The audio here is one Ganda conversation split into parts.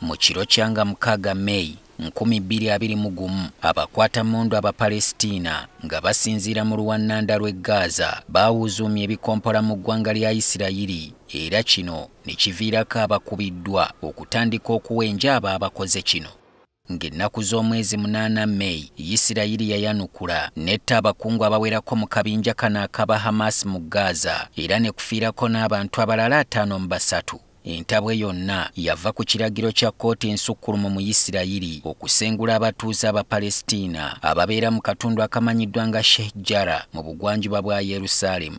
mu kiro kyanga mukaaga meyi nkumi bbiri abiri mu gumu abakwata mundu abapalesitiina nga basinziira mu luwannanda lw'e gaaza baawuuzuumya ebikompola mu ggwanga lya isirayiri era kino ne kiviirako abakubiddwa okutandika okuwenja abo abakoze kino. Ng'ennaku z'omwezi munaana May, Yisirayiri yayanukula n'etta abakungu abawerako mu kabinja kano akaba Hamas mu Gaza era ne kufiirako n'abantu abalala ataano mu basatu. Entabwe yonna yava ku kiragiro kya kkooti ensukkulumu mu Yisirayiri okusengula abatuuze Abapalestina ababeera mu katundu akamanyiddwa nga Sheikh Jarrah mu bugwanjuba bwa Yerusaalemu.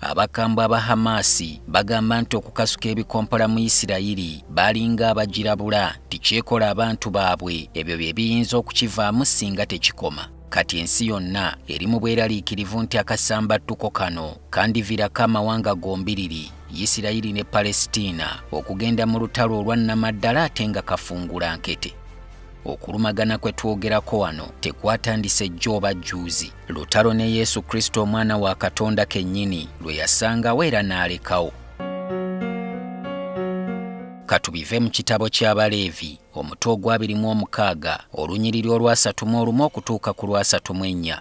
Abakambwe aba Hamaasi bagamba nti okukasuka ebikompola mu Isirayiri balinga abagirabula nti kyekola abantu baabwe ebyo bye biyinza okukivaamu singa tekikoma. Kati ensi yonna eri mu bweraliikirivu nti akasambattuko kano kandivirako amawanga gombiriri Isirayiri ne Palesitiina okugenda mu lutalo olwa nnamaddala ate nga kafungula nkete. Okulumagana kwe twogerako wano tekwatandise jjo oba jjuuzi. Lutalo ne Yesu Kristo omwana wa Katonda kennyini lwe yasangawo era n'alekawo. Katubive mu kitabo ky'Abaleevi omutwe ogwabiri mu omukaaga olunyiriri olwasatu mu olumu okutuuka ku lwasatu mu ennya.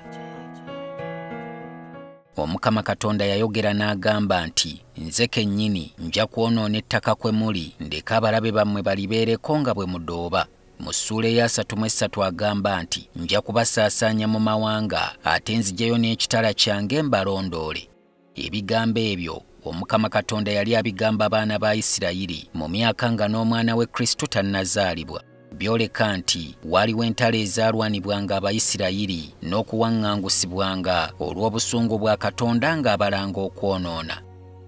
Omukama Katonda yayogera n'agamba nti, Nze kennyini nja kwonoona ettaka kwe muli, ndeke abalabe bammwe balibeereko nga bwe mudooba. mu ssuula eyasatu mu essatu agamba nti nja kubasaasaanya mu mawanga ate nzijayo n'ekitala kyange mbalondoole ebigambo ebyo omukama katonda yali abigamba abaana ba isirayiri mu myaka nga n'omwana we kristo tannazaalibwa byoleka nti waaliwo entalo ezaalwanibwanga abayisirayiri n'okuwaŋŋangusibwanga olw'obusungu bwa katonda ng'abalanga okwonoona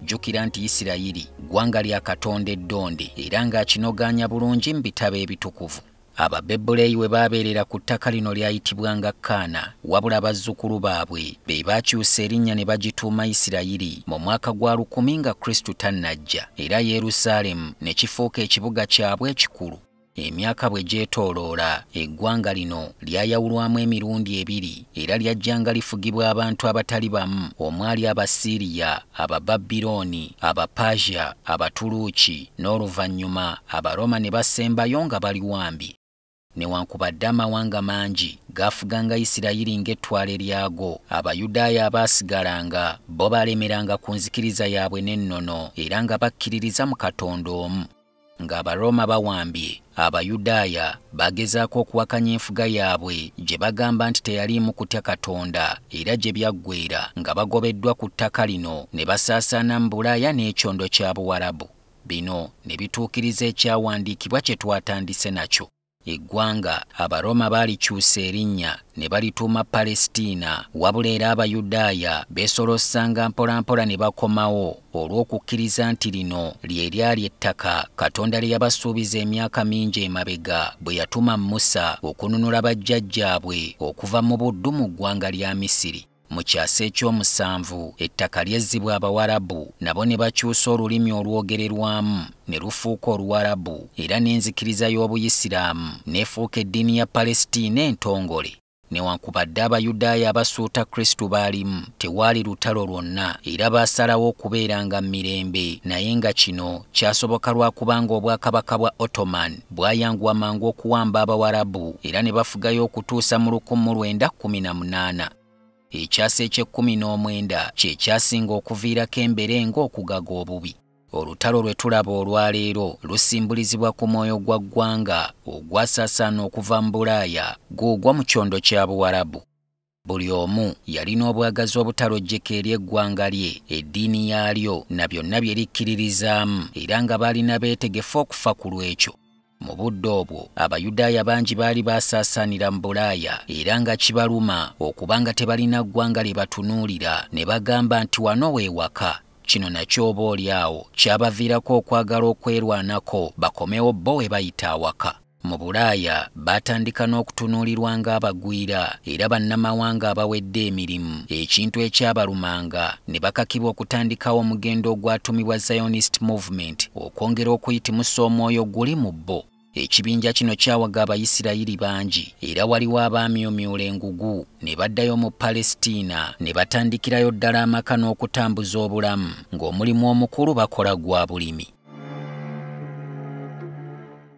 Jjukira nti Isirayiri ggwanga lya Katonda eddonde era ng'akinogaanya bulungi mu bitabo ebitukuvu. Ababebuleeyi we baabeerera ku ttaka lino lyayitibwanga Kaana, wabula bazzukulu baabwe be baakyusa erinnya ne bagituuma Isirayiri mu mwaka gwa lukumi nga Kristo tannajja, era Yerusaalemu ne kifuuka ekibuga kyabwe ekikulu. Emyaka bwe gyetooloola, eggwanga lino lyayawulwamu emirundi ebiri era lyajjanga lifugibwa abantu abatali bamu omwali Abasiiriya, Abababirooni, Abapersia, Abatuluuki, n'oluvannyuma Abaroma ne basembayo nga bali wambi. Newankubadde amawanga mangi gaafuganga Isirayiri ng'ettwale lyago, Abayudaaya abaasigalanga bo baalemeranga ku nzikiriza yaabwe n'ennono era nga bakkiririza mu Katonda omu. ng'abarooma bawambye abayudaaya bagezaako okuwakanya enfuga yaabwe gye bagamba nti teyaliimu kutya katonda era gye byaggweera nga bagobeddwa ku ttaka lino ne basaasaana mu bulaaya n'ekyondo kya buwarabu bino ne bituukiriza ekyawandiikibwa kye twatandise nakyo Eggwanga Abaroma baalikyusa erinnya ne balituuma Palestina, wabula era Abayudaaya beesolossanga mpolampola ne bakomawo olw'okukkiriza nti lino lye lyali ettaka Katonda lye yabasuubiza emyaka mingi emabega bwe yatuma Musa okununula bajjajjaabwe okuva mu buddu mu ggwanga lya Misiri. Mu kyasa eky'omusanvu ettaka lyezzibwa Abawarabu nabo ne bakyusa olulimi olwogererwamu ne lufuuka Oluwarabu era n'enzikiriza y'Obuyisiraamu n'efuuka eddiini ya Palestina entongole. Newankubadde Abayudaaya abasuuta Kristo baalimu, tewaali lutalo lwonna era baasalawo okubeeranga mu mirembe naye nga kino kyasoboka lwa kubanga Obwakabaka bwa Ottoman bwayanguwa mangu okuwamba abawarabu era ne bafugayo okutuusa mu lukumu lwenda kumi na munaana ekyasa eky'ekkumi n'omwenda kye kyasinga okuviirako embere ng'okugaga obubi olutalo lwe tulaba olwaleero lusimbulizibwa ku mwoyo gwa ggwanga ogwasaasaana okuva mu bulaaya guugwa mu kyondo kya buwarabu Buli omu yalina obwagazi obutalojjeka eri eggwanga lye, eddiini yaalyo, na byonna bye likkiririzaamu, era nga baalina beetegefu okufa ku lw'ekyo. Mu budde obwo, Abayudaaya bangi baali baasaasaanira mu Bulaaya, era nga kibaluma okuba nga tebalina ggwanga lye batunuulira, ne bagamba nti wano we waka. Kino nakyo oba oli awo kyabaviirako okwagala okwerwanako bakomewo bo we bayita awaka. Mu Bulaaya baatandika n'okutunuulirwa ng'abagwira era bannamawanga abawedde emirimu, ekintu ekyabalumanga ne bakakibwa okutandikawo omugendo ogwatumibwa Zionist Movement okwongera okuyitimusa omwoyo oguli mu bo. Ekibinja kino kyawaga Abayisirayiri bangi era waliwo abaamyumyula engugu ne baddayo mu Palestina ne batandikirayo ddala amaka n'okutambuza obulamu ng'omulimu omukulu bakola gwa bulimi.